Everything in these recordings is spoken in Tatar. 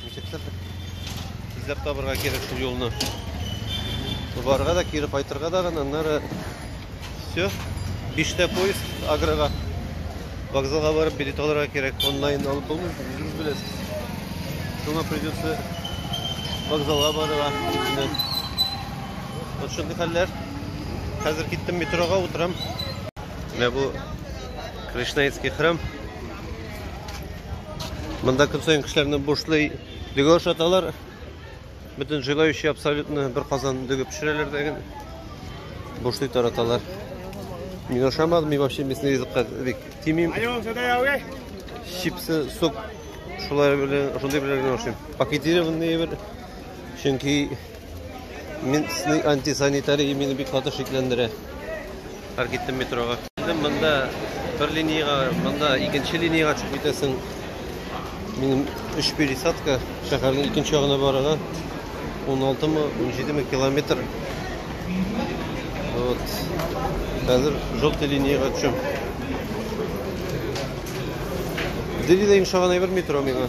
Ничектер эзләп табырга кирәк шул юлны. Барырга да, кире кайтырга да гына, аннары все. Биштә поезд агрога. Вокзалга барып билет алырга кирәк. Онлайн алып булмый, үзегез беләсез. Шуңа придется вокзалга барырга. Вот шундый хәлләр. Хәзер киттем метрога утырам. Менә бу Кришнаитский храм. Монда көн саен кешеләрне бушлый дөге ашаталар. Бөтен желающий абсолютно бер казан дөге пешерәләр дәген. Бушлый тараталар. Мин ашамадым, мин вообще местный ризыкка бик тимим. Чипсы, сок, шулай белән, шундый белән ашыйм. Пакетированный бер. Чөнки Минсный антисанитария мине бик каты шикләндерә. Һәр киттем метрога. Килдем монда бер линиягә, монда икенче линиягә чыгып китәсең. Минем өч пересадка шәһәрнең икенче ягына барырга 16 мы, 17 мы километр. Вот. Хәзер желтый линиягә төшәм. Дилидә ошаган әйбер метро миңа.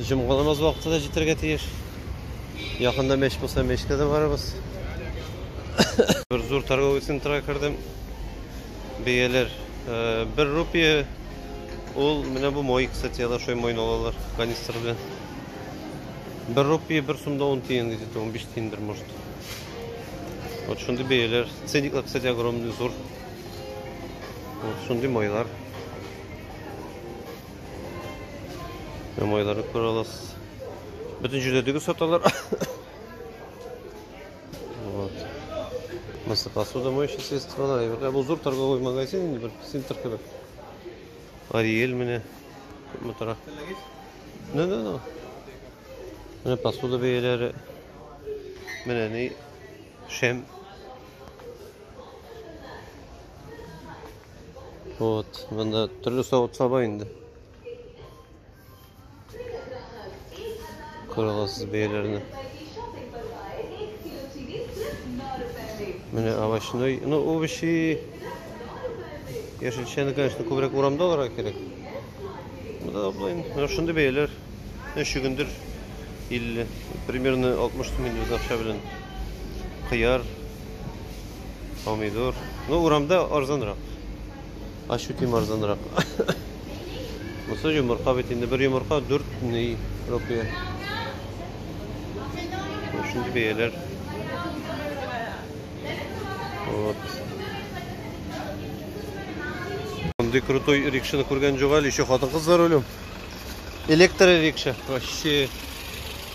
Җомга намаз вакыты да җитәргә тиеш. Якында мәч булса, мәчкә дә барабыз. Бер зур торговый центрга кердем. Бәяләр 1 э, рупия. Ул менә бу мой, кстати, я дошой мой алалар канистр белән. 1 рупия 1 сумда 10 тиен где-то 15 тиендер, может. Вот шундый бәяләр. Ценниклар, кстати, огромный, зур. Вот шундый майлар. Майлары күрә аласыз. Бөтен җирдә дөгес саталар. Вот. Мысы посуда моющие средстволар. Ә бу зур торговый магазин инде бер центр кебек. Ариэль менә күпме тора. Ну, ну, ну. Менә посуда бәяләре. Менә ни шәм Вот, монда төрле савыт саба инде. Күрәсез бәяләрне. Менә овощной, ну овощи яшелчәне, конечно, күбрәк урамда алырга кирәк. Монда аблайм, ну шундый бәяләр. Өч чөгендер 50, примерно 60 сум инде без акча белән. Кыяр Помидор. Ну, урамда арзанрак. Ощутимо арзанрак. Монысы йомырка бит инде. Бер йомырка 4 ни рупия. Шундый бәяләр. Вот. Мондый крутой рикшаны күргән юк әле, еще хатын-кызлар үлем. Электро рикша. Вообще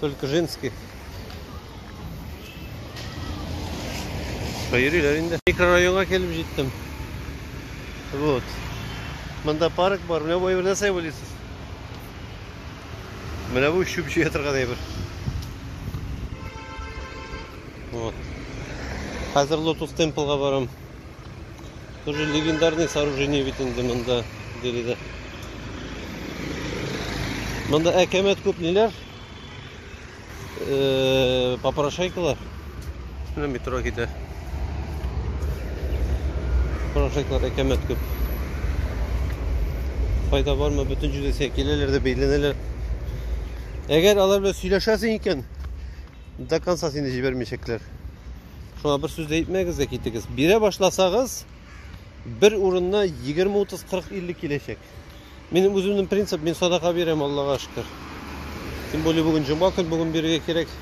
только женские. Йөриләр инде. Микрорайонга килеп җиттем. Вот. Монда парк бар. Менә бу әйберне нәрсә уйлыйсыз? Менә бу чүп җыя торган әйбер. Вот. Хәзер Lotus Temple-га барам. Тоже легендарный сооружение бит инде монда биредә. Монда әкәмәт күп ниләр? Э, попрошайкалар. Менә метро китә. Попрошайкалар әкәмәт күп. Файда бармы? Бөтен җирдә киләләр дә бәйләнәләр. Әгәр алар белән сөйләшәсең икән, До конца сине җибәрмәячәкләр. Шуңа бер сүз дә әйтмәгез дә китегез. Бирә башласагыз, бер урынна 20, 30, 40, 50 киләчәк. Минем үземнең принцип, мин садака бирәм, Аллага шөкер. Тем более бүген җомга көн, бүген бирергә кирәк.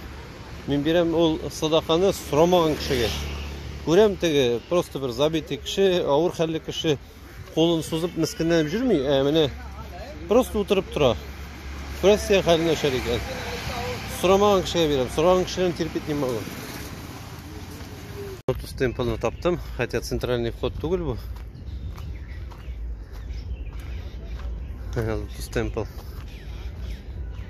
Мин бирәм ул садаканы сорамаган кешегә. Күрәм теге просто бер забитый кеше, авыр хәлле кеше. Кулын сузып, мескенләнеп йөрми, ә менә просто утырып тора. Күрәсең, хәлен начар икән. Сорамаган кешегә бирәм. Сораган кешеләрне терпеть не могу. Вот стемпелны таптым, хотя центральный вход түгел бу. Стемпл.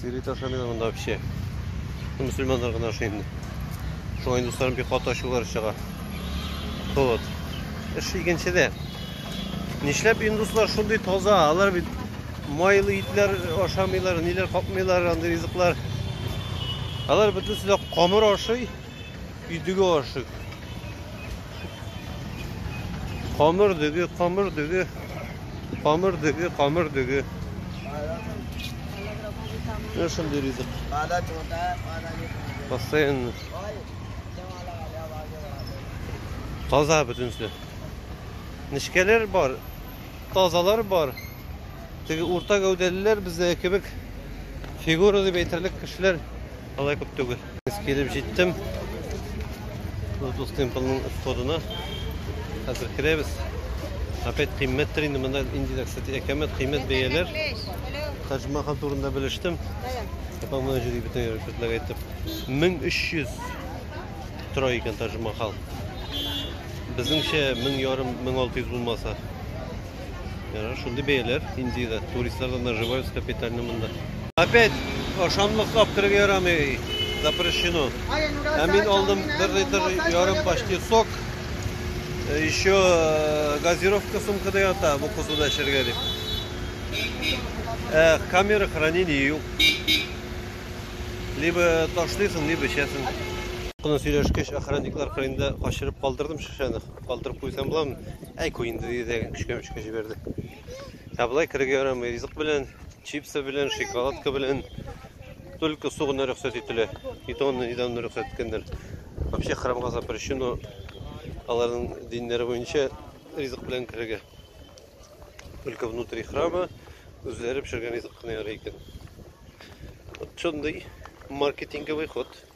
Сыйрый ташламыйлар монда вообще. Мөселманнар гына ашый инде. Шуңа индусларның бик каты ачулары чыга. Вот. Эш икенчедә. Нишләп индуслар шундый таза? Алар бит майлы итләр ашамыйлар, ниләр капмыйлар, андый ризыклар. Алар бөтенесе дә камыр ашый. Идеге ашык. Камыр дөге, камыр дөге. Камыр дөге, камыр дөге. Менә шундый ризык. Постоянно. Таза бөтенесе. Нечкәләр бар, тазалар бар. Теге урта гәүдәлеләр бездә кебек фигура дип әйтерлек кешеләр алай күп түгел. Без килеп җиттем. Лотос темплның входына. Хәзер керәбез. Опять кыйммәттер инде монда инде дә, кстати, әкәмәт кыйммәт бәяләр. Тадж Махал турында белештем. Апа моны җөри бөтен рәшәтләр әйтеп. 1300 тора икән Тадж Махал. Безнеңчә 1000 ярым, 1600 булмаса. Яра, шундый бәяләр Индиядә. Туристлар да наживаются капитально монда. Опять ашамлык аптырып ярамый. Запрещено. Ә мин алдым бер литр ярым почти сок. Э, еще э, газировка сумкада ята, бу кузуда эчәргә дип. Э, камера хранения юк. Либо ташлыйсың, либо эчәсең. Куна сөйләшкәч, охранниклар кырында качырып калдырдым шешәне. Калдырып куйсам буламы? Әй, куй инде, диде, көчкә-мөчкә җибәрде. Ә болай керергә ярамый, ризык белән, чипсы белән, шоколадка белән, только су гына рөхсәт ителә. Итоны нидән рөхсәт иткәннәр. Вообще храмга запрещено аларның диннәре буенча ризык белән керергә. Только внутри храма үзләре пешергән ризык кына ярый икән. Вот шундый маркетинговый ход.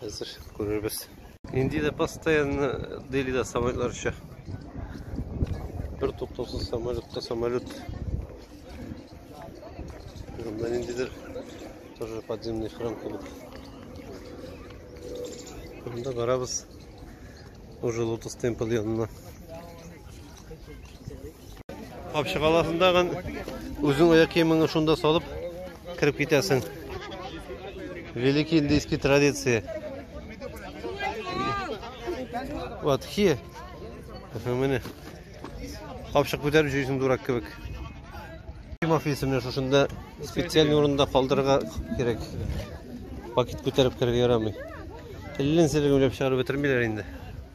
Хәзер күрербез. Инде дә постоянно дели дә самолетлар оча. Бер туктаусыз самолетка самолет. Монда ниндидер тоже подземный храм кебек. Монда барабыз уже лотос темпл янына. Thank you. Капчык аласың тагын, үзең аяк киемеңне шунда салып кереп китәсең. Великий индийский традиция. Вот хи. Менә. Капчык күтәреп җөйсең дурак кебек. Ким офисымны шушында специаль урында калдырырга кирәк. Пакет күтәреп керергә ярамый. Телен сиргә үлеп чыгарып бетермиләр инде.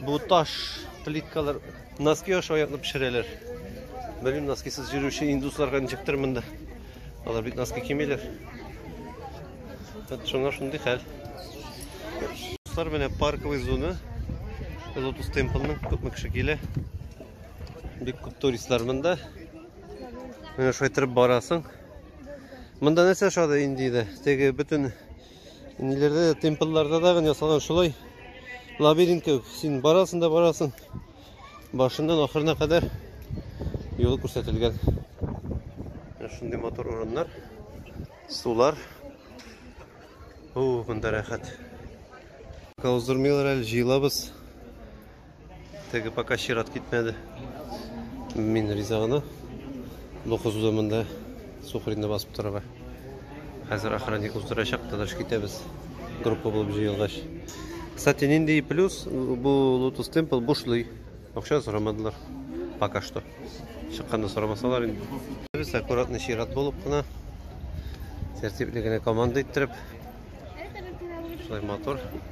Бу таш плиткалар носки аша аяклап пешерәләр. Белмим, носкисыз йөрүче индусларга ничектер монда. Алар бит носки кимиләр. Вот шуңа шундый хәл. Дуслар, менә парковый зона. Lotus Temple-ның күпме кеше килә. Бик күп туристлар монда. Менә шулай торып барасың. Монда нәрсә шады инде иде? Теге бөтен Ниләрдә дә темплларда да гын ясалган шулай. Лабиринт кебек. Син барасың да барасың. Башыннан ахырына кадәр юл күрсәтелгән. Шундый мотор урыннар. Сулар. Бу монда рәхәт. Каузырмыйлар әле җыелабыз. Теге пока чират китмәде. Мин риза гына. Бу кызуда монда сухринны басып торырга. Хәзер охранник уздырачак, тыныш китәбез. Группа булып җыелгач. Кстати, нинди плюс бу Lotus Temple бушлый. Акча сорамадылар. Пока что. Чыкканда сорамасалар инде. Без аккуратно чират булып кына тәртипле генә команда иттереп. Шулай мотор.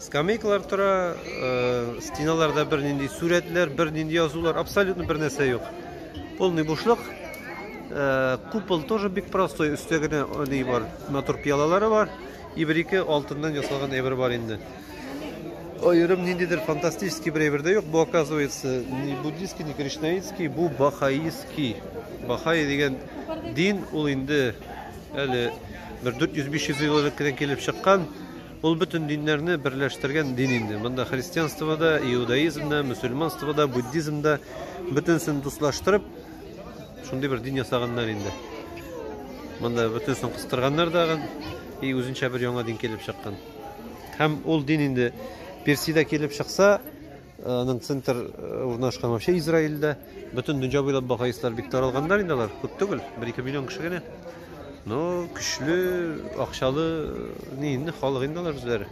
Скамейкалар тора, стеналарда бернинди сурәтләр, бернинди язулар, абсолютно бер нәрсә юк. Полный бушлык. Купол тоже бик простой, өстә генә ни бар, мотор пиалалары бар. И бер-ике алтыннан ясалган әйбер бар инде. Аерым ниндидер фантастический бер әйбер дә юк. Бу оказывается не буддийский, не кришнаитский, бу бахаистский. Бахаи дигән дин ул инде әле бер 400-500 ел элек кенә килеп чыккан. Ул бөтен диннәрне берләштергән дин инде. Монда христианство да, иудаизм да, мөселманство да, буддизм да бөтенсен дуслаштырып, шундый бер дин ясаганнар инде. Монда бөтенсен кыстырганнар дагы, и үзенчә бер яңа дин килеп чыккан. Һәм ул дин инде Персида килеп чыкса, Аның центр урнашкан вообще Израильдә. Бөтен дөнья буйлап бахаистлар бик таралганнар инде алар. Күп түгел, 1-2 миллион кеше генә. Но көчле, акчалы ни инде халык инде алар үзләре.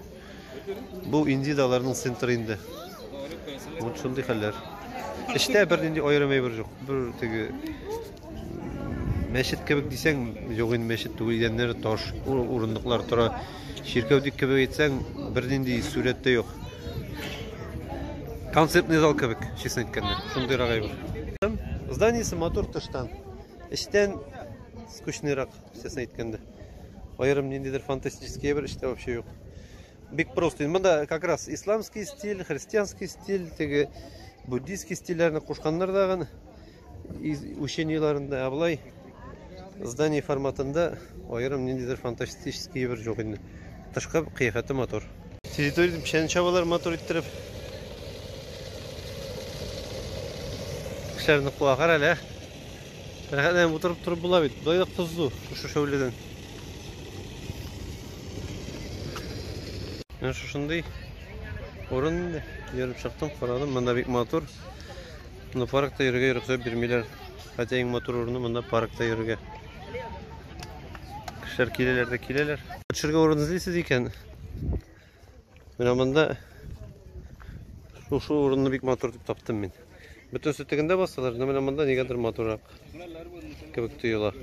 Бу инде дә аларның центры инде. Вот шундый хәлләр. Эштә бернинди аерым әйбер юк. Бер теге Мәчет кебек дисәң, юк инде мәчет түгел, идәннәре таш, урындыклар тора. Чиркәү дип кебек әйтсәң, бернинди сурәт тә юк. Концертный зал кебек, честно әйткәндә. Шундыйрак әйбер. Зданиесе матур тыштан. Эчтән скучныйрак, честно әйткәндә. Аерым ниндидер фантастический әйбер эчтә вообще юк. Бик просто. Монда как раз исламский стиль, христианский стиль, теге буддийский стильләрне кушканнар дагы. Учение еларында абылай здание форматында аерым ниндидер фантастический бер жоқ инде. Тышкы кыяфәте мотор. Территорияда печән чабалар мотор иттереп. Кешеләрне куа кара әле. Рәхәтләнеп утырып торып була бит. Болай да кызу шушы шәүләдән. Менә шушындый урын инде. Йөреп чыктым, карадым, монда бик мотор. Монда паркта йөрергә рөхсәт бирмиләр. Хәтта иң матур урыны монда паркта йөрергә. Кешеләр киләләр дә киләләр. Төшергә урын эзлисез икән. Менә монда шушы урынны бик матур дип таптым мин. Бөтен сөтегендә басалар, но менә монда нигәдер матуррак кебек тоела.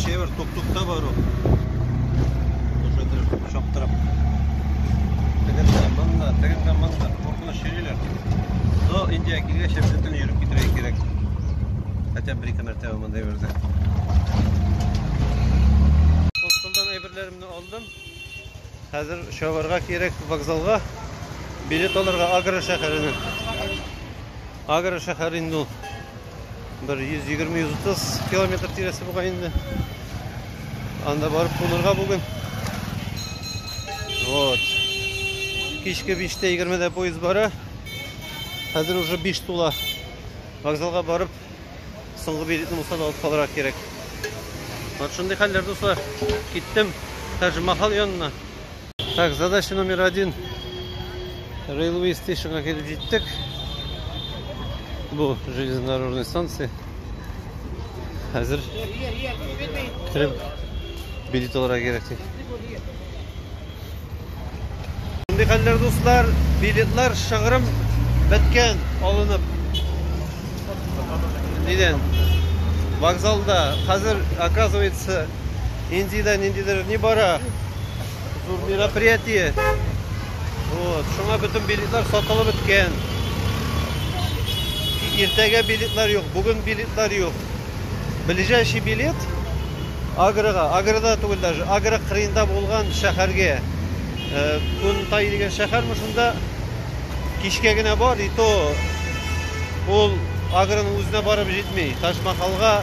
Шевер тук-тукта бар ул. Уже дөрес чаптырып. Тегендә, монда, тегендә, монда. Артта чөйлиләр. Но Индия килгәч, бөтен йөреп китәргә кирәк. Хотя бы ике мәртәбә монда йөрде. Хостелдан әйберләремне алдым. Хәзер чабарга кирәк вокзалга. Билет алырга Агра шәһәренә. Агра шәһәре инде ул. Бер 120-130 километр тирәсе буга инде. Анда барып кунырга бүген. Вот. Кичке 5-тә 20-дә поезд бара. Хәзер уже 5 тула. Вокзалга барып, соңгы билетны булса да алып калырга кирәк. Вот шундый хәлләр, дуслар. Киттем Таҗмахал янына. Так, задача номер один. Railway Station'га килеп җиттек. Бу железнодорожный станция. Хәзер кереп билет алырга кирәк ди. Мондый хәлләр, дуслар, билетлар шыгрым беткән, алынып. Нидән? Вокзалда хәзер, оказывается, Индиядә ниндидер ни бара? Зур мероприятие. Вот, шуңа бөтен билетлар сатылып беткән. Иртәгә билетлар юк, бүген билетлар юк. Ближайший билет Агрыга, Агрыда түгел даже, Агры кырыенда булган шәһәргә. Э, Кунтай дигән шәһәрме шунда кичкә генә бар, и то ул Агрының үзенә барып җитми. Ташмахалга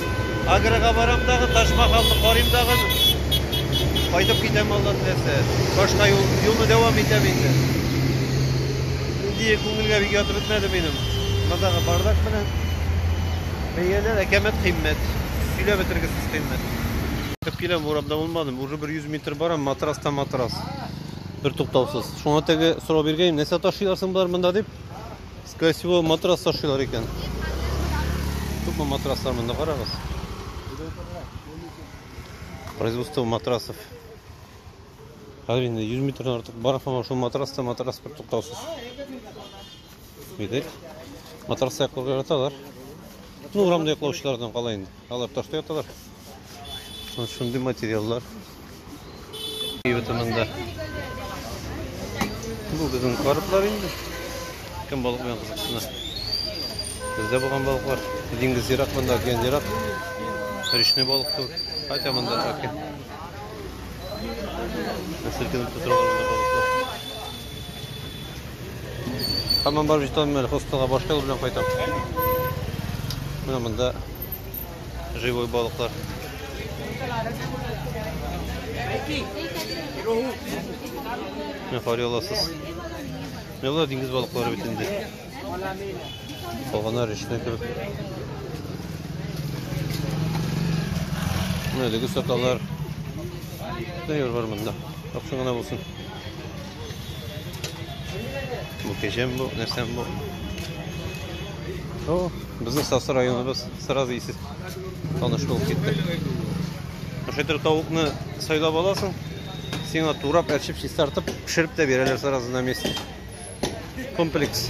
Агрога барам дагы, Ташмахалны карыйм дагы. Кайтып китәм алла теләсә. Башка юл, юлны дәвам итәм инде. Инде күңелгә бик ятып бетмәде минем. Мондагы бардак белән. Бәяләр әкәмәт кыйммәт. Сөйләп бетергесез кыйммәт. Кып киләм, урамда булмадым. Уже 100 метр барам, матрас та матрас. Бер туктаусыз. Шуңа теге сорау биргәйм, нәрсә ташыйлар соң болар монда дип. Скорее всего, матрас ташыйлар икән. Күпме матраслар монда карагыз. Производство матрасов. Хәзер инде 100 метрдан артык бар һәм шул матраста матрас бер туктаусыз. Видеть? Матрас якларга яраталар. Ну, урамда яклаучылардан кала инде. Алар ташта яталар. Вот шундый материаллар. Ютымында. Бу безнең карплар инде. Кем балык белән кызыксына. Бездә булган балыклар. Диңгез ерак монда, океан ерак. Речный балык түгел. Хотя монда океан. Селкенеп тутыралар монда балыклар. Хамам бар бит алмер, хостелга башка юл белән кайтам. Менә монда Живой балыклар. Менә карый аласыз. Менә болар диңгез балыклары бит инде. Калганнар эченә кереп. Менә әлеге саталар. Дәйер бар монда. Аксың гына булсын. Бу кешем бу, нәрсәм бу. О, безнең Сасы районыбыз. Сразу исе таныш булып китте. Шайтыр тавыкны сайлап аласың, сиңа турап, әрчеп, чистартып, пешереп тә бирәләр сразу на месте. Комплекс.